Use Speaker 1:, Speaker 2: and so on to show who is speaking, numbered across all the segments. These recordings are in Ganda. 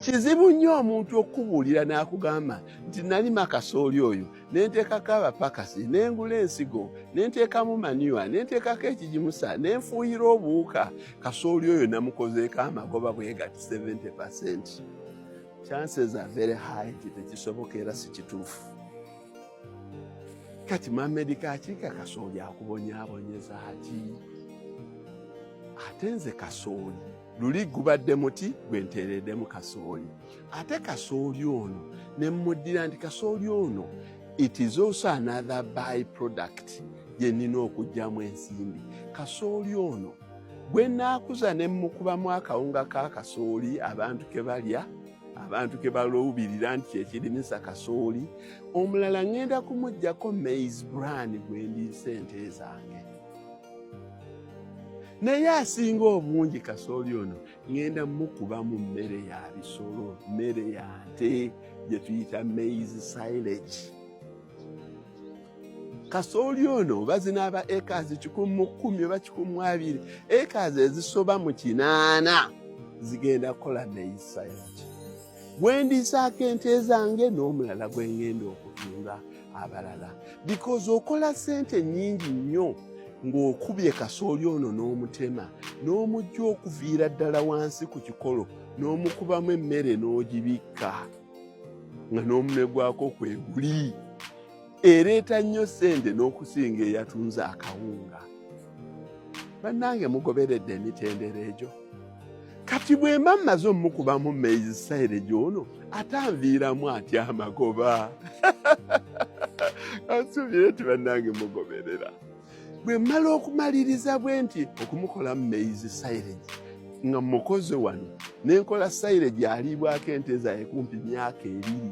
Speaker 1: Kizibu nnyo omuntu okukubuulira n'akugamba nti nalima kasooli oyo ne nteekako abapakasi ne ngula ensigo ne nteekamu manyiwa ne nteekako ekigimusa ne nfuuyira obuwuka kasooli oyo namukozeeko amagoba bwegati 70 percent chances are very high nti tekisoboka era si kituufu kati mamedi kakiika kasooli akubonyabonyeza ki ate nze kasooli luli gubadde muti gwe nteereddemu kasooli ate kasooli ono ne mmuddira nti kasooli ono it is also another by product gye nnina okugyamu ensimbi kasooli ono bwe naakuza ne mmukubamu akawunga ka kasooli abantu ke balya abantu ke balowubirira nti kyekirimisa kasooli omulala ŋŋenda kumuggyako mais bran gwe ndi sente zange naye asinga obungi kasooli ono ŋenda mukuba mu mmere ya bisolo mmere ya nte gye tuyita maize silage kasooli ono oba zinaaba ekazi kikumi mu kkumi oba kikumi mu abiri ekazi ezisoba mu kinaana zigenda kukola maize silage gwendiisaako ente zange n'omulala gwe ŋenda okutunda abalala because okola sente nyingi nnyo ng'okubye kasooli ono n'omutema n'omujja okuviira ddala wansi ku kikolo n'omukubamu emmere n'ogibikka nga n'omunwe gwako kwe guli ereeta nnyo ssente n'okusinga eyatunze akawunga bannange mugoberedde emitendera egyo kati bwe mba mmaze omukubamu maize silage ono atanviiramu atya amagoba ansubire ti bannange mugoberera bwe mmala okumaliriza bwe nti okumukolamu maize silage nga mukoze wano nenkola silage aliibwako ente zaye kumpi myaka ebiri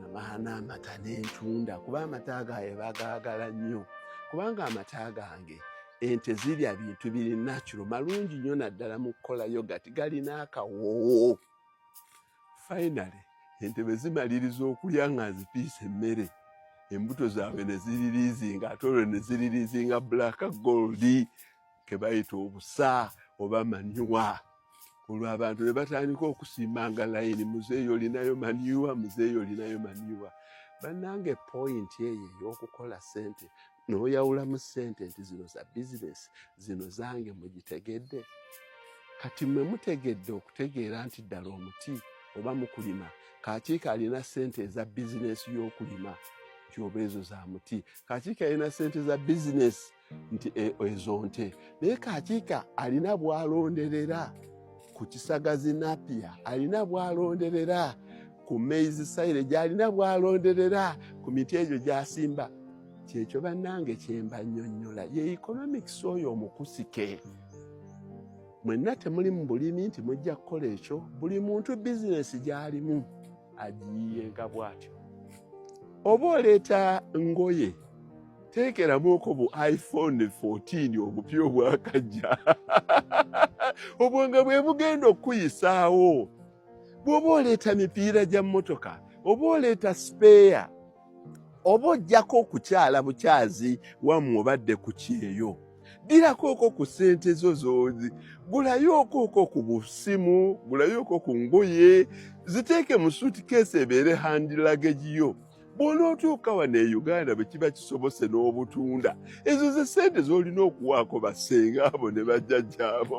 Speaker 1: namaana amata n'entunda kuba amata gaye bagaagala nnyo kubanga amata gange ente zirya bintu biri nakiro malungi nnyo naddala mu kukola yogati galina akawoowo fainale ente bwe zimaliriza okulya nga nzipiisa emmere embuto zaabwe ne ziririizinga ate olwo ne ziririizinga black goldi ke bayita obusa oba manyuwa olwo abantu ne batandika okusimbanga layini muzeeyi olinayo maniwa muzeeyi olinayo maniwa bannanga epoyinti eyo ey'okukola sente n'oyawulamu sente nti zino za bizinesi zino zange mugitegedde kati mwe mutegedde okutegeera nti ddala omuti oba mukulima kakiika alina sente eza bizinesi y'okulima nti oba ezo za muti kakiika alina sente za bizinesi nti e, ezo nte naye kakiika alina bwalonderera ku kisagazi napia alina bwalonderera ku maize sire gyalina bwalonderera ku miti egyo gyasimba kyekyo bannange kyemba nnyonnyola ye economics oyo omukusike mwenna temuli mu bulimi nti mujja kukola ekyo buli muntu bizinesi gy'alimu agiyiyenga bw'atyo oba oleeta ngoye teekeramuko bu iphone 14 obupya obwakajja obwo nga bwe bugenda okukuyisaawo bw'oba oleeta mipiira gya mmotoka oba oleeta sipeeya oba ojjako okukyala bukyazi wamu obadde ku kyeyo dirakooko ku ssente zo zoozi gulayokooko ku busimu gulayooko ku ngoye ziteeke mu suitcase ebeere handi lagage yo bw'onootuuka wano e uganda bwe kiba kisobose n'obutunda ezo ze ssente z'olina okuwaako bassenga abo ne bajjajjaabo